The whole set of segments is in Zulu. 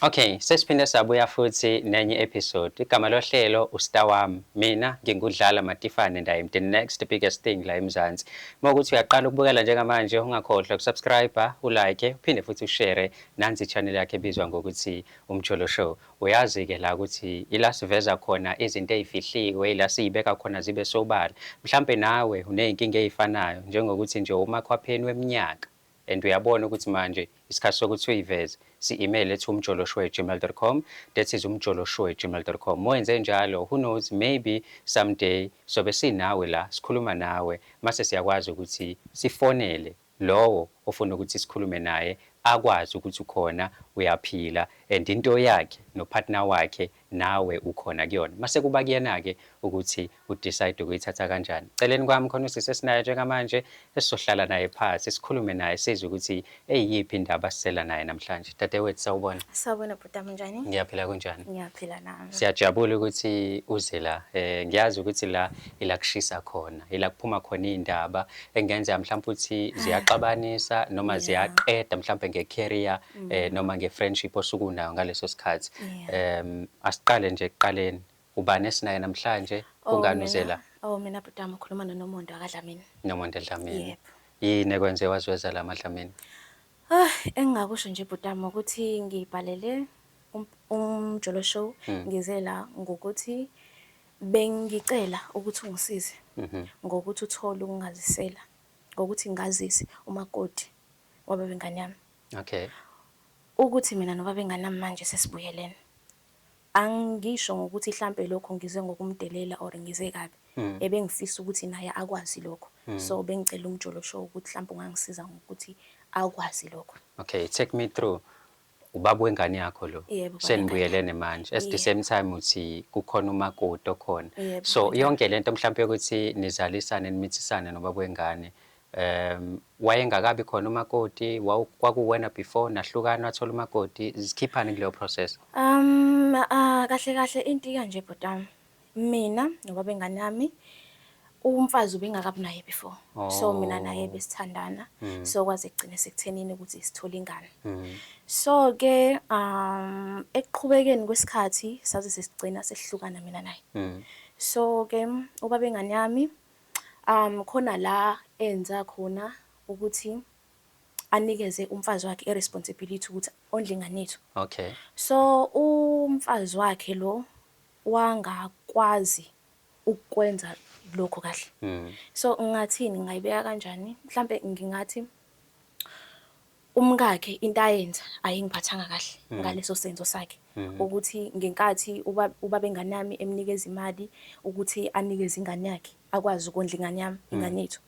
Okay sesiphinde sabuya futhi nenye episode igama lohlelo ustar wami mina ngingudlala matifane and I am the next biggest thing la eMzansi uma ukuthi uyaqala ukubukela njengamanje ungakhohlwa ukusubscribe ulike uphinde futhi ushare nansi channel yakhe ebizwa ngokuthi umjolo show uyazi ke la ukuthi ila siveza khona izinto ezifihliwe ila siyibeka khona zibe sobala mhlambe nawe uneyinkinga ezifanayo njengokuthi nje umakhwapheni weminyaka And uyabona ukuthi manje isikhathi sokuthi uyiveze si-email ethi umjoloshwe@gmail.com that is umjoloshwe@gmail.com moyenze njalo who knows maybe someday sobe sinawe la sikhuluma nawe mase siyakwazi ukuthi sifonele lowo ofuna ukuthi sikhulume naye akwazi ukuthi ukhona uyaphila and into yakhe nopartner wakhe nawe ukhona kuyona mase kuba kuyena ke ukuthi u decide ukuyithatha kanjani celeni kwami khona usisi esinayo njengamanje esizohlala naye phansi sikhulume naye sizwe ukuthi eyiphi indaba sisela naye namhlanje dadewethu sawubona sawubona bhutam njani ngiyaphila kunjani ngiyaphila nami siyajabula ukuthi uze la eh ngiyazi ukuthi la ila kushisa khona ila kuphuma khona indaba engenzeka mhlawumbe ukuthi ziyaxabanisa noma ziyaqeda mhlawumbe nge career mm. eh noma ngefriendship osuke unayo ngaleso sikhathi em asiqale nje ekuqaleni ubani esinaye namhlanje oh, ungani uzela oh mina butama ukhuluma noNomondo akadlamini Nomondo edlamini yebo yini ekwenze wazweza la madlamini ah engingakusho nje butama ukuthi ngibhalele um, umjolo show hmm. ngize la ngokuthi bengicela ukuthi ungisize mhm. ngokuthi uthole ukungazisela ngokuthi ngazise umakoti wababengane yami Okay. Ukuthi mina noBabengana manje sesibuyelene. Angisho ngokuthi hlampe lokho ngize ngokumdelela or ngize kabi. Mm. Ebengifisa ukuthi naye akwazi lokho. Mm. So bengicela umjolo show ukuthi hlampe ungangisiza ngokuthi akwazi lokho. Okay, take me through. Ubaba wengane yakho lo. Yebo. Senibuyelene manje. At the same time uthi kukhona umakoti okhona. Yebo. So yonke lento mhlampe ukuthi nizalisane nimithisane nobaba wengane. Um wayengakabi khona umakoti kwakuwena before nahlukana wathola umakoti zikhiphani kuleyo process? Um ah, kahle kahle into ikanje bhotami. Mina nobaba engane yami umfazi ubengakabi naye before. So oh. mina naye besithandana. Mm. So kwaze kugcine sekuthenini ukuthi sithole ingane. Mm. So ke um ekuqhubekeni kwesikhathi saze sesigcina sehlukana mina naye. Mm. So ke ubaba engane yami Khona la enza khona ukuthi anikeze umfazi wakhe i responsibility ukuthi ondle ingane yethu. Okay. So umfazi wakhe lo wangakwazi ukwenza lokho kahle. Mm. So ngathini ngayibeka kanjani? Mhlambe ngingathi Umkakhe into ayenza ayingiphathanga kahle mm. ngaleso senzo sakhe mm. ukuthi ngenkathi ubaba engane yami emnikeza imali ukuthi anikeze ingane yakhe akwazi ukondla ingane yami mm. ingane yethu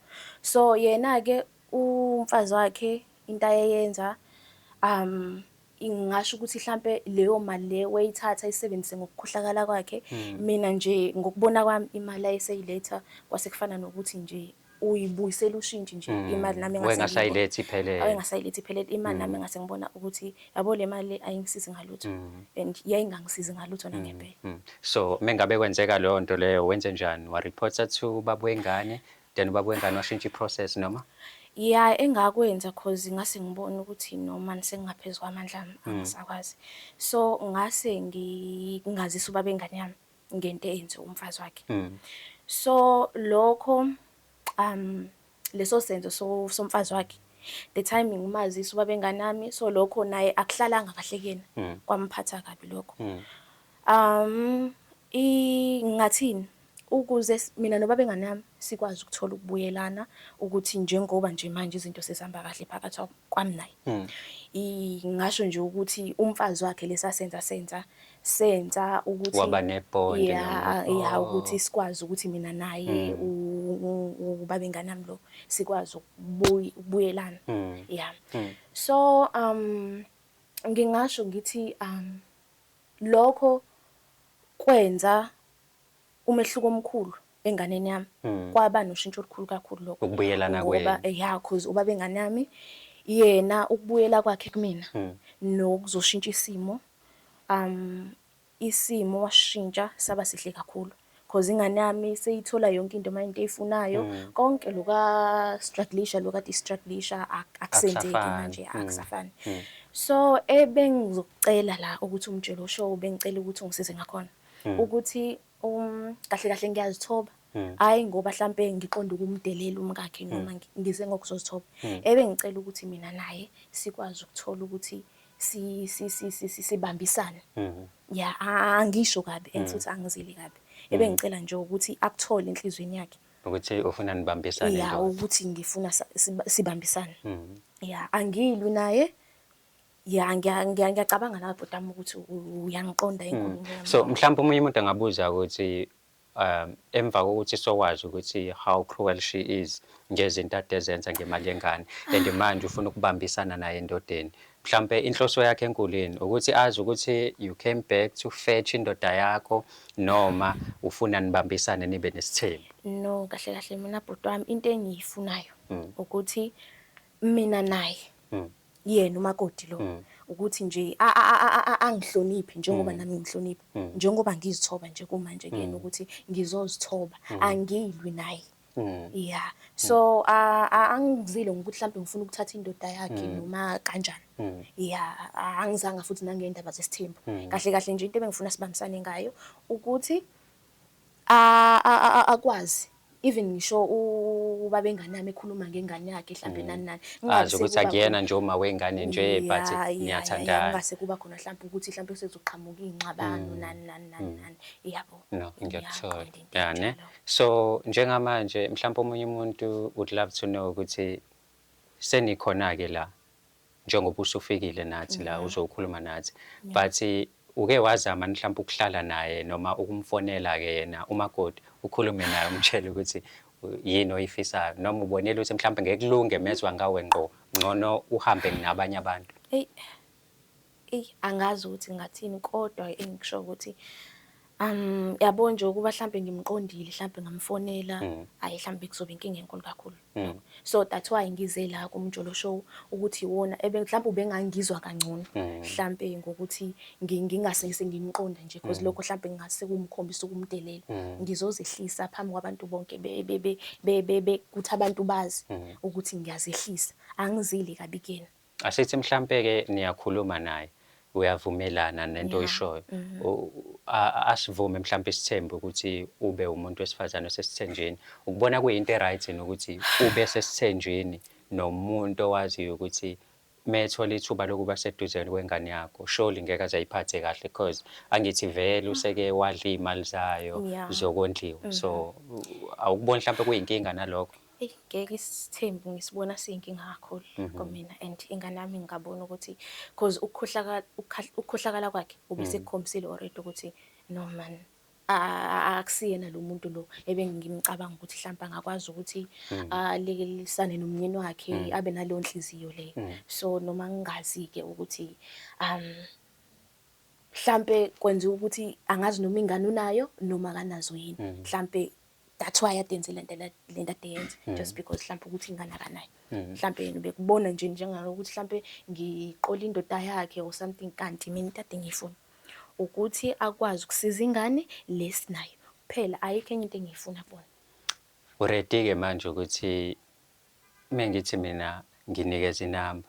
so yena-ke umfazi wakhe into ayeyenza um ngingasho ukuthi mhlampe leyo mali le wayithatha ayisebenzise ngokukhohlakala kwakhe mm. mina nje ngokubona kwami imali ayeseyiletha kwase kufana nokuthi nje uyibuyisela ushintshi nje mm. imali nami engasayilethi iphelele engasayilethi iphelele imali nami mm. ngase ngibona ukuthi yabo le mali ayingisizi ngalutho mm. and yayingangisizi ngalutho nangempela so mengabe kwenzeka leyo nto leyo wenze njani wa reporter to babu wengane then ubabu wengane washintsha iprocess noma ya engakwenza cause ngase ngibona ukuthi noma sengingaphezulu kwamandla angisakwazi so ngase ngingazisa ubaba engane yami ngento eyenziwe umfazi wakhe mm. so lokho um leso senzo so somfazi wakhe the timing umazisi uba benganami so lokho naye akuhlalanga kahle kuyena mm. kwamphatha kabi lokho mm. um ingathini ukuze mina nobabe nganami sikwazi ukuthola ukubuyelana ukuthi njengoba nje manje izinto sesihamba kahle phakathi kwami naye hmm. ngasho nje ukuthi umfazi wakhe lesasenza senza senza ukuthi waba nebond ya ya ukuthi oh. sikwazi ukuthi mina naye hmm. ubabengane nami lo sikwazi ukubuyelana hmm. ya hmm. so um ngingasho ngithi um lokho kwenza umehluko omkhulu enganeni yami mm. kwaba noshintsho olukhulu kakhulu lokho ukubuyelana ngoba ya cause ubaba engane yami yena ukubuyela kwakhe kumina mm. nokuzoshintsha isimo um isimo washintsha saba sihle kakhulu cause ingane yami seyithola yonke into manje eyifunayo mm. konke loka strugglisha loka distrugglisha akusenzeki manje mm. akusafani mm. so ebengizocela la ukuthi umtshelo show bengicela ukuthi ungisize ngakhona ukuthi Um, kahle kahle ngiyazithoba. Hmm. Hayi ngoba mhlampe ngiqonda ukumdelela umkakhe noma hmm. ngize ngokuzozithoba. Hmm. Ebe ngicela ukuthi mina naye sikwazi ukuthola ukuthi si si si si sibambisane. Ya angisho kabi and futhi angizili kabi. Ebe ngicela nje ukuthi akuthole enhlizweni yakhe. Ukuthi ufuna nibambisane nje. Ya ukuthi ngifuna sibambisane. Ya angilwi naye. ya ngiya- ngiya- ngiyacabanga nawe bhuti wami ukuthi u- uyangiqonda Mm. inkulumo yami so mhlawumbe omunye umuntu angabuza ukuthi um emva kokuthi sokwazi ukuthi how cruel she is ngezinto ade ezenza ngemali yengane and manje ufuna ukubambisana naye endodeni mhlawumbe inhloso yakhe enkulu yini ukuthi azi ukuthi you came back to fetch indoda yakho noma ufuna nibambisane nibe nesithembu no kahle kahle mina bhuti wami into engiyifunayo Mm. ukuthi mina naye Mm. yena umakoti lo Mm. ukuthi nje a- a- a- a- a- angihloniphi njengoba nami ngihlonipha Mm. njengoba ngizithoba nje kumanje kuyena ukuthi ngizozithoba angilwi naye Mm. ya so a- a- angizile ngokuthi mhlawumbe ngifuna ukuthatha indoda yakhe noma kanjani Mm. ya a- angizanga futhi nangey'ndaba zesithembu kahle kahle nje into ebengifuna sibambisane ngayo ukuthi akwazi even ngisho ubabenga nami ekhuluma ngengane yakhe mhlambe nani nani Ah, nje ukuthi akuyena nje uma wengane nje but niyathandana ngase kuba khona mhlawumbe ukuthi mhlawumbe sezoqhamuka ingxabano nani nani nani nani yabo no ngiyakuthola yeah ne so njengamanje mhlawumbe omunye umuntu would love to know ukuthi senikhona ke la njengoba usufikile nathi la uzokhuluma nathi but uke wazama mhlawumbe ukuhlala naye noma ukumfonela ke yena umakoti ukhulume naye umtshele ukuthi yini oyifisayo noma ubonela ukuthi mhlawumbe ngekulunge mezwa ngawe ngqo ngcono uhambe nabanye abantu eyi Eyi angazi ukuthi ngingathini kodwa engikushoyo ukuthi um yabo nje ukuba mhlawumbe ngimqondile mhlawumbe ngamfonela mm. hhayi mhlawumbe kuzobe inkinga enkulu kakhulu mm. so that's why ngize la kumjolo show ukuthi iwona mhlawumbe ubengangizwa kangcono mm. mhlawumbe ngokuthi ngingasese ngimqonda nje because lokho mhlawumbe ngingase kumkhombisa ukumdelela ngizozehlisa phambi kwabantu bonke kuthi abantu bazi ukuthi ngiyazehlisa angizile kabi kuyena Asithi mhlampe-ke niyakhuluma naye uyavumelana nento Yeah. oyishoyo Mhm. U- a- a- asivume mhlawumbe isithembu ukuthi ube umuntu wesifazane osesithenjini ukubona kuyinto e-right yini ukuthi ube sesithenjini nomuntu owaziyo ukuthi methola ithuba lokuba seduze kwengane yakho surely ngeke aze ayiphathe kahle because angithi vele useke wadla iy'mali zayo Yeah. zokondliwa so u- awukuboni mhlawumbe kuyinkinga nalokho Eyi ngeke isithembu ngisibona siyinkinga kakhulu mhm. kumina and ingane yami ngingabona ukuthi cause ukukhohlakala kwakhe ubesekukhombisile mhm. already ukuthi no man akusiyena lo muntu lo ebengimcabanga ukuthi mhlawumbe angakwazi ukuthi mhm. alekelisane nomnyeni wakhe abe naleyo nhliziyo le so noma ngingazi-ke ukuthi um mhlampe kwenziwa ukuthi angazi noma ingane unayo noma akanazo yini mhlampe that's why ade enze lento lento ade yenze mm. just because mhlawumbe ukuthi ingane akanayo mm. mhlawumbe yena ubekubona nje njengalokuthi mhlawumbe ngiqola indoda yakhe or something kanti mina into ade ngiyifuna ukuthi akwazi ukusiza ingane lesinayo kuphela ayikho enye into engiyifuna kubona uready ke manje ukuthi mengithi mina nginikeza inamba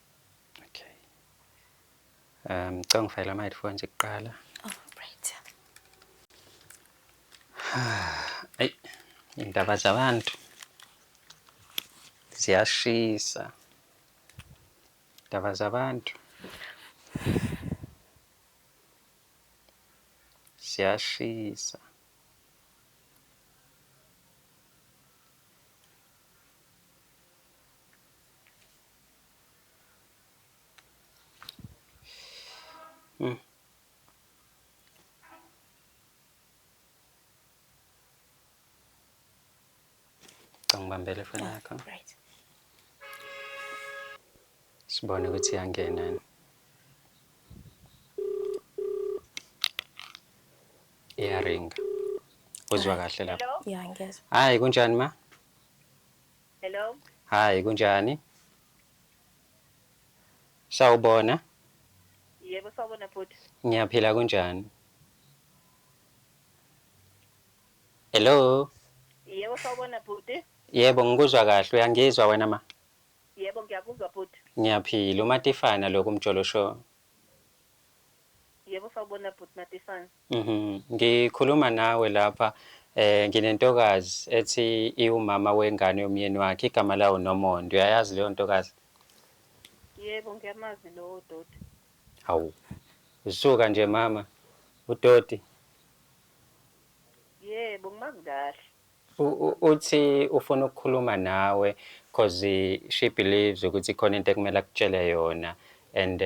Okay. Um, ngicela ngifayela ama headphone nje kuqala. Oh, right. Ay, indaba zabantu ziyashisa. Indaba zabantu ziyashisa. Mm. Ngibambele ifoni ah, yakho. Right. Sibone ukuthi iyangena yini. Iyaringa. Uzwa kahle lapho. Yeah, ngiyezwa. Hayi kunjani ma? Hello. Hi, kunjani? Sawubona. Yebo sawubona bhuti. Ngiyaphila kunjani? Hello. Yebo sawubona bhuti. Yebo ngikuzwa kahle uyangizwa wena ma? Yebo ngiyakuzwa bhuti. Ngiyaphila uMatifana lo kuMjolo Show. Yebo sawubona bhuti Matifane. Mhm. Ngikhuluma nawe lapha eh nginentokazi ethi iwumama wengane yomyeni wakhe igama lawo Nomondo. Uyayazi leyo ntokazi? Yebo ngiyamazi lowo doti. Hawu. Usuka nje mama udoti. Yebo ngimazi kahle. Uthi ufuna ukukhuluma nawe coz she believes ukuthi ikhona into ekumele akutshele yona and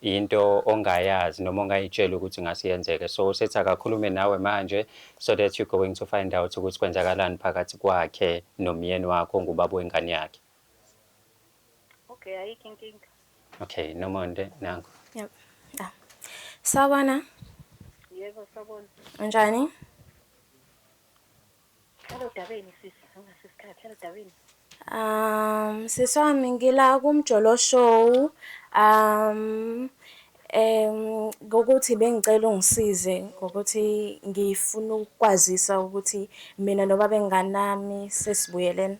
yinto ongayazi noma ongayitsheli ukuthi ngase yenzeke so usethi akakhulume nawe manje so that you going to find out ukuthi kwenzakalani phakathi kwakhe nomyeni wakho ongubaba wengane yakhe. Okay ayikho inkinga. Okay nomonde nangu. Yep. Ah. Sawbona. Yebo sawbona. Unjani? Um, sisi wami ngila kumjolo show. Um, um ngokuthi bengicela ungisize ngokuthi ngifuna ukwazisa ukuthi mina nobaba enganami sesibuyelene.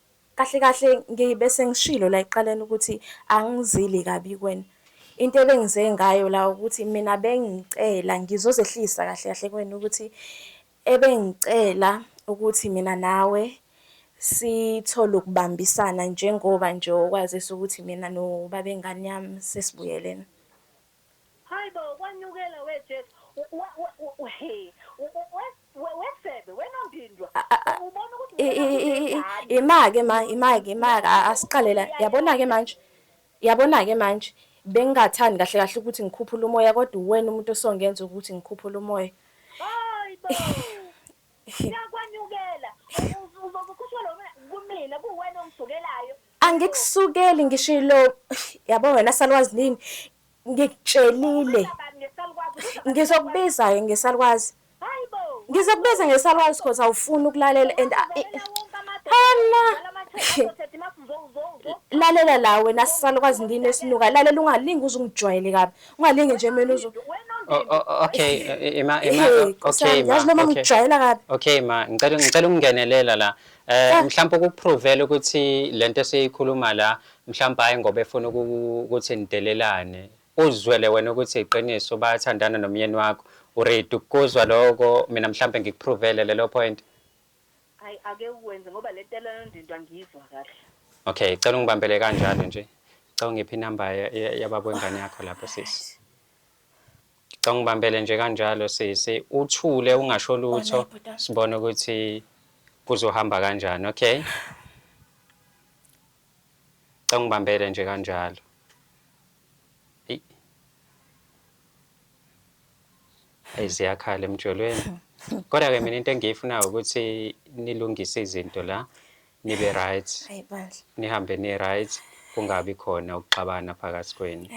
Kahle kahle ngibe sengishilo la ekuqaleni ukuthi angizili kabi kweni. Into ebengize ngayo la ukuthi mina bengicela ngizozehlisa kahle kahle kweni ukuthi ebengicela ukuthi mina nawe sithole ukubambisana njengoba nje okwazisa ukuthi mina nobabengane yami sesibuyelene. Haibo kwanyukela we Jesu wesebe wenondindwa ubona ukuthi imake ma imake imake asiqalela yabona ke manje yabona ke manje bengingathandi kahle kahle ukuthi ngikhuphule umoya kodwa uwena umuntu osongenza ukuthi ngikhuphule umoya hayibo yakwanyukela uzokukhushelwa kumina kuwena ongivukelayo Angikusukeli ngisho ilo yabo wena salwazi nini ngikutshelile ngizokubiza-ke ngesalukwazi ngizokubiza ngesalukwazi cause awufuni ukulalela and hana lalela la wena sisalukwazi ndini esinuka lalela ungalingi uze ungijwayele kabi ungalingi nje mina uze oh, oh, oh, okay eh, eh, ima ima okay ma noma ngijwayela kabi okay ma ngicela ngicela ukungenelela la Eh ah. mhlawumbe ukukupruvela ukuthi lento esiyikhuluma la mhlawumbe hayi ngoba efuna ukuthi nidelelane uzwele wena ukuthi iqiniso bayathandana nomyeni wakho uready ukuzwa lokho mina mhlawumbe ngikupruvele lelo point hayi ake ukwenze ngoba le tela yondinto angiyizwa kahle okay cela ungibambele kanjalo nje cela ungiphi inamba yababo wengane yakho lapho sisi Ngicela ungibambele nje kanjalo sisi, uthule ungasho lutho sibone ukuthi kuzohamba kanjani, okay? Ngicela ungibambele nje kanjalo. Eyi ziyakhala emjolweni. Kodwa ke mina into engiyifunayo ukuthi nilungise izinto la nibe right. Hayi bandla. Nihambe ni right kungabi khona ukuxabana phakathi kwenu.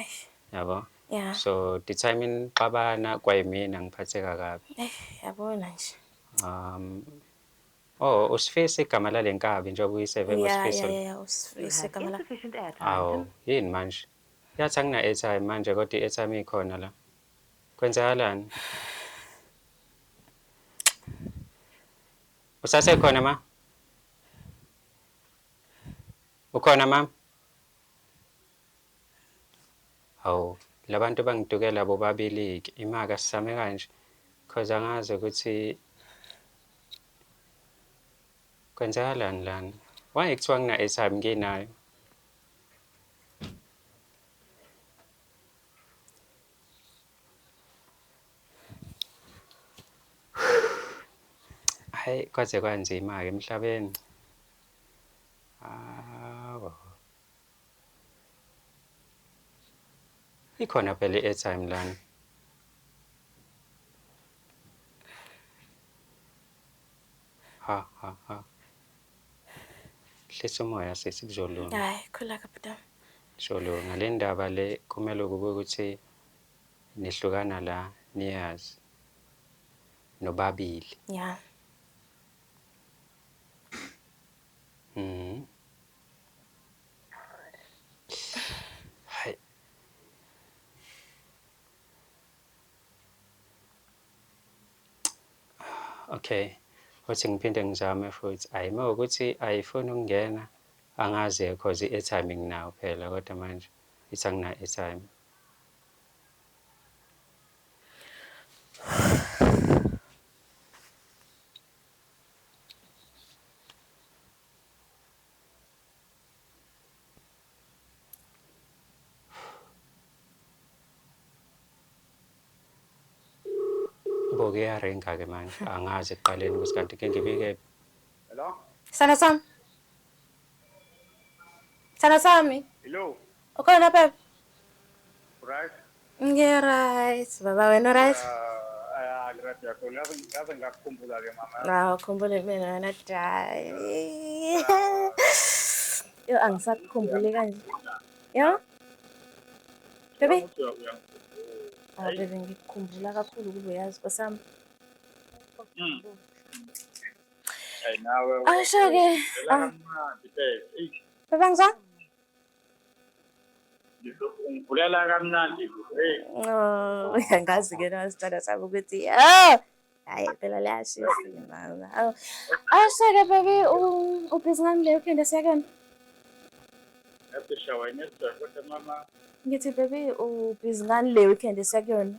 Yabo? Yeah. so the time nixabana kwayimina ngiphatheka kabi Eh, yabona nje. um oh usifisa igama lale nkabi njengoba uyiseve Yeah, ngosifiso yeah, yeah, usifise kamala. Insufficient airtime. awu yini manje yathi angina-airtime manje kodwa i-airtime ikhona la kwenzakalani usasekhona ma ukhona mama Hawu labantu bangitukela bobabiliki imaka sisame kanje cause angazi ukuthi kwenzakalani lana. Why kuthiwa ngina-airtime nginayo? Hhayi kwaze kwanzima-ke emhlabeni. Hawu. Ikhona phela i-airtime lana. Ha ha ha. Hlisa umoya sisi kuzolunga. Hayi khula kaputana. Kuzolunga le ndaba le kumele kube ukuthi nihlukana la niyazi nobabili. Yeah. Mhm. Hayi. Okay. Futhi ngiphinde ngizame futhi. Hayi uma ukuthi ayifuni ukungena angazi cause i-airtime nginayo phela kodwa manje ithi angina airtime. Mboke yarenga ke manje angazi ekuqaleni ukuthi kanti ke ngibike Hello? Sana sami. Sana sami. Hello. Ukhona baba? Right. Ngiya right. Baba wena right? Ah, right yakho. Ngaze ngakukhumbula ke mama. Hawu, ah, khumbule mina wena dai. Yo angisakukhumbuli kanje. Yo? Baby? Ah, baby ngikukhumbula kakhulu kube yazi kwesami. Mm. Hey nawe. Asho ke. Ah. Baba ngizwa? Ngivulela kamnandi. Hey. Oh, angazi ke na sicela sami ukuthi oh hayi phela liyashisa mama. Oh. Awuseke baby ubhizi ngami leyo kenda sekona. Yasisha wena sicela kodwa mama. Ngithi baby ubhizi ngani le weekend esekuyona?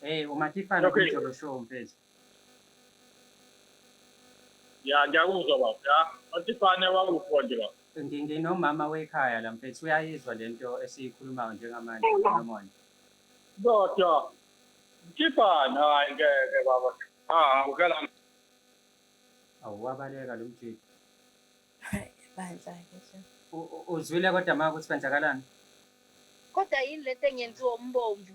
Hey uMatifana Okay. kumjolo show mfethu. ya ngiyakuzwa baba ya matifane wakupho nje baba Ngi- Nginomama wekhaya la mfethu uyayizwa lento esiyikhulumayo njengamanje Solomon. kodwa mtifane hayi ngeke baba ah ukela Awu wabaleka lo mjita. Hayi, bandla ke nje. U- u- Uzwile kodwa maka ukuthi kwenzakalani? kodwa yini lento engenziwa umbomvu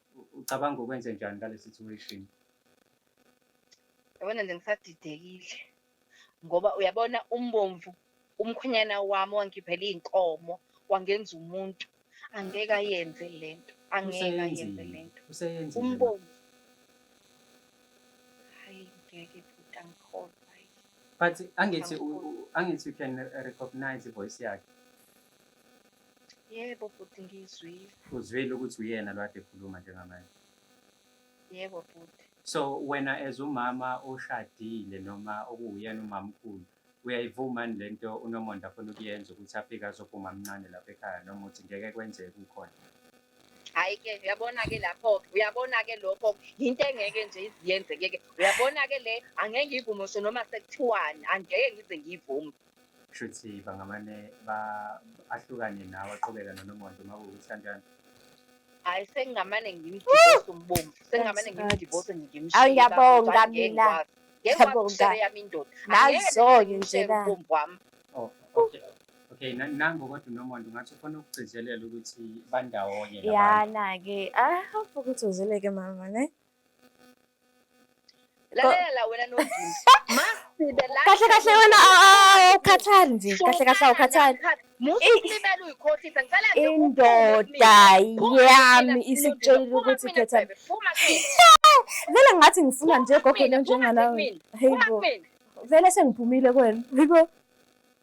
ucabanga ukwenze njani ngale situation yabona nje ngisadidekile ngoba uyabona umbomvu umkhwenyana wami wangiphelela iy'nkomo wangenza umuntu angeke ayenze le nto angeke ayenze le nto umbomvu hayi ngeke bhuti angikholwa but angithi angithi you can recognize ivoice yakhe Yebo bhuti ngiyizwile. Uzwile ukuthi uyena lo ade ekhuluma njengamanje. Yebo bhuti. So wena as umama oshadile noma okuwuyena umamkhulu uyayivuma yini lento uNomonde afuna ukuyenza ukuthi afike azophuma amncane lapha ekhaya noma uthi ngeke kwenzeke kukhona? Hayi ke uyabona ke lapho ke uyabona ke lokho yinto engeke nje iziyenzeke ke uyabona ke le angeke ngiyivume ngisho noma sekuthiwani angeke ngize ngiyivume kusho ukuthi bangamane ahlukane nawe aqhubeka nonomonto uma kuwukuthi kanjani hayi sengingamane ngimdivorce umbombo sengingamane ngimdivorce ngimshiyangiyabonga mina ngiyabonga yami indoda nazoke nje la umbombo wami oh, okay okay nango kodwa unomonto ngathi ufuna ukugcizelela ukuthi bandawonye yana ke ah ukuthi uzeleke mama ne lalela wena nodingi masibe la kahle kahle wena awukhathali nje kahle kahle awukhathali musulimela uyikhohlisa ngicela nje indoda yami isitshela ukuthi khetha vele ngathi ngifuna nje gogo njenganami hey bo vele sengiphumile kwena yiko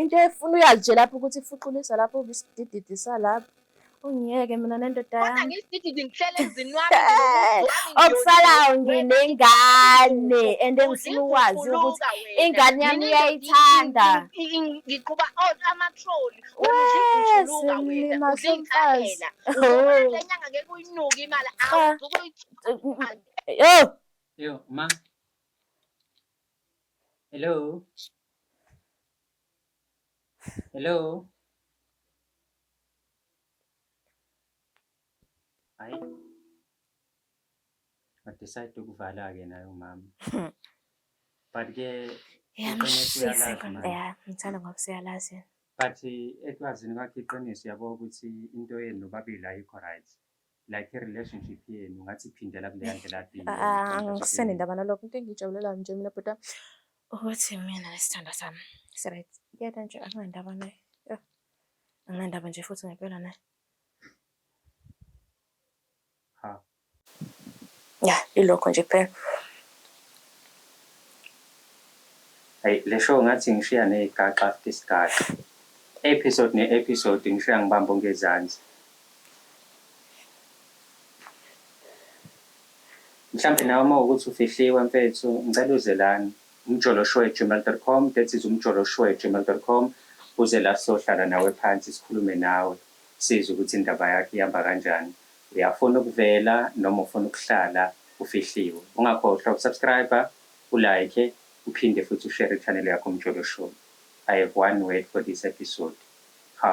into efuna uyazi nje lapho ukuthi ifuqulisa lapho ubisidididi salapho ungiyeke mina nendoda yami okusalayo nginengane and engifuna ukwazi ukuthi ingane yami uyayithanda ngiqhuba amatroli ulimahlomfazi lenyanga ke kuyinuka imali awuzukuyiyo yo ma Hello. Hello. Ay. I decide to kuvala again ayo mama. But ke Yamshisa ikhanda yakhe, ngithanda ngoba siyalazi yena. but ekwazini kwakhe iqiniso yabo ukuthi into yenu nobabili ayikho right. like i-relationship yenu ngathi phindela kuleya ndlela kade yenu. Ah, angisene ndaba nalokho into engiyijabulelayo nje mina bhuti wami ukuthi mina nesithandwa sami siryt kuyena nje anginandaba naye Yah, anginandaba nje futhi ngempela naye Ha. ya ilokho nje kuphela Hayi le show ngathi ngishiya nezigaxa after isigaxa. Episode ne-episode ngishiya ngibamba ongezansi. Mhlampe nawe uma ukuthi ufihliwe mfethu ngicela uze lana umjoloshwegmail.com that is umjoloshwegmail.com uze la sizohlala nawe phansi sikhulume nawe sizwe ukuthi indaba yakho ihamba kanjani uyafuna ukuvela noma ufuna ukuhlala ufihliwe ungakhohlwa ukusubscriber ulike uphinde futhi ushare channel yakho umjoloshow I have one word for this episode ha